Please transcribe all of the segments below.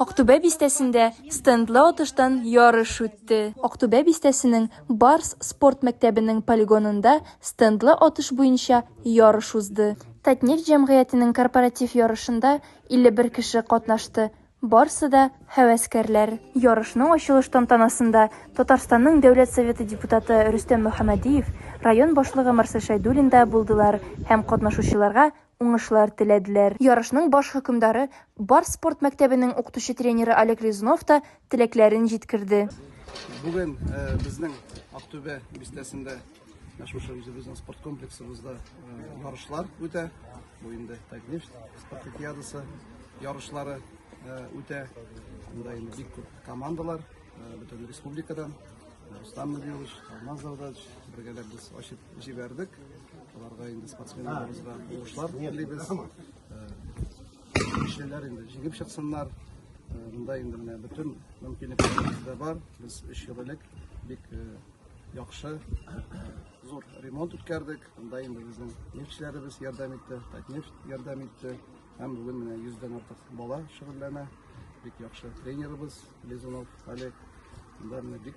Актүбә бистәсендә стендлы атыштан ярыш үтте. Актүбә бистәсенең Барс спорт мәктәбенең полигонында стендлы атыш буенча ярыш узды. Татнефть җәмгыятенең корпоратив ярышында 51 кеше катнашты, барсы да, һәвәскәрләр. Ярышның ачылыш тантанасында Татарстанның Дәүләт Советы депутаты Рөстәм Мөхәммәдиев, район башлыгы Марсель Шәйдуллин да булдылар һәм катнашучыларга уңышлар теләделәр. Ярышның баш хөкемдары, Барс спорт мәктәбенең укытучы-тренеры Олег Лизунов та теләкләрен җиткерде. Бүген безнең Актүбә бистәсендә шушы үзебезнең спорт комплексыбызда ярышлар үтә. Бу инде Татнефть спартакиадасы ярышлары үтә. Монда инде бик күп командалар бөтен республикадан Рустам Набиевич, Алмаз Завдатович бергәләп без ачып Җибәрдек. Аларга инде спортсменнарыбызга уңышлар телибез. Кешеләр инде җигеп чыксыннар. Монда инде менә бөтен мөмкинлекләребез дә бар. Без өч ел элек бик яхшы зур ремонт үткәрдек. Монда инде безнең нефтьчеләребез ярдәм итте, Татнефть ярдәм итте. Һәм бүген менә 100 артык бала шөгыльләнә. Бик яхшы тренерыбыз Лизунов Олег. Монда менә бик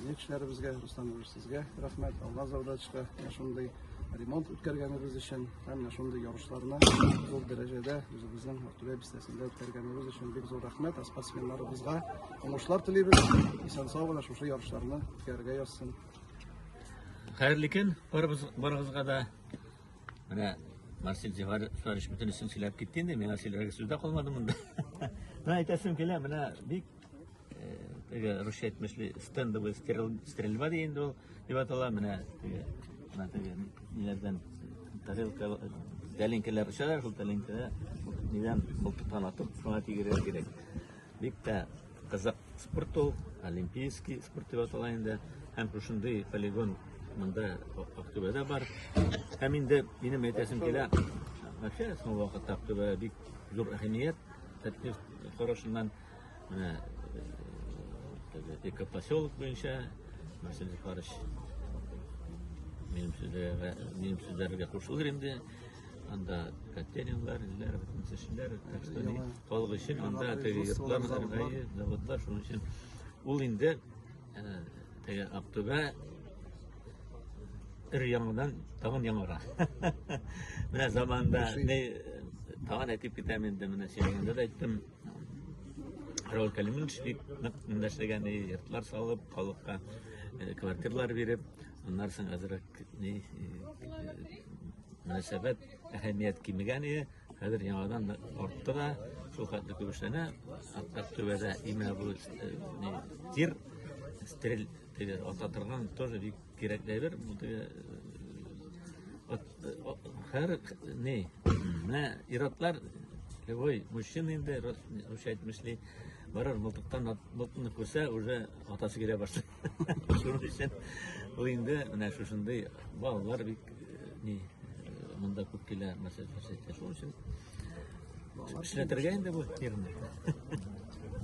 Безнең кешеләребезгә, Руслан Юрьевич, сезгә рәхмәт. Алга завдачка шундый ремонт үткәргәнебез өчен һәм менә шундый ярышларны зур дәрәҗәдә үзебезнең Актүбә бистәсендә үткәргәнебез өчен бик зур рәхмәт. Спортсменнарыбызга уңышлар телибез. Исән сау гына шушы ярышларны үткәрергә язсын. Хәерле көн барыбыз барыгызга да. Менә Марсель Зифарович бөтен өчен сөйләп китте инде. Миңа сөйләргә сүз дә калмады монда. Менә әйтәсем килә, менә бик теге русча әйтмешли стендовый стрельба дигән ул дип атала менә теге менә теге ниләрдән тарелка тәлинкәләр очалар шул тәлинкәдә нидән мылтыктан атып шуңа тигерергә кирәк бик тә кызык спорт ул олимпийский спорт дип атала инде һәм шушындый полигон монда актүбәдә бар һәм инде минем әйтәсем килә вообще соңгы вакытта актүбәдә бик зур әһәмият тәртип карашыннан Менә экопоселок буенча Василий Захарович минем сүзләргә минем сүзләргә кушылыр инде. Анда Катеринлар, Илләр, Мисешләр, Әкстәни, халык өчен анда теге йортлар, Аргайы, заводлар, шуның өчен ул инде теге Актүбә өр яңадан тагын яңара. Менә заманда не тагын әйтеп китәм инде, менә сөйләгәндә дә әйттем. Рәүл Кәлимович бик нык эндәшләгән, йортлар салып, халыкка э, квартирлар биреп, аннан соң әзрәк ни э, мөнәсәбәт әһәмият кимегән иде. Хәзер яңадан артты да, шул хәтле күп эшләнә. Хәтта төбәдә имә бу э, тир, стериль, теге ата торган тоже бик Кирәкләйбер, э, э, һәр не, мә иратлар любой мужчина инде русча әйтмешли, барыр мылтыктан мылтыкны күрсә, уже атасы килә башлый. Шуның өчен ул инде менә шушындый балалар бик э, не монда күп килә мәсәлән, шуның өчен эшләтергә инде бу фирма.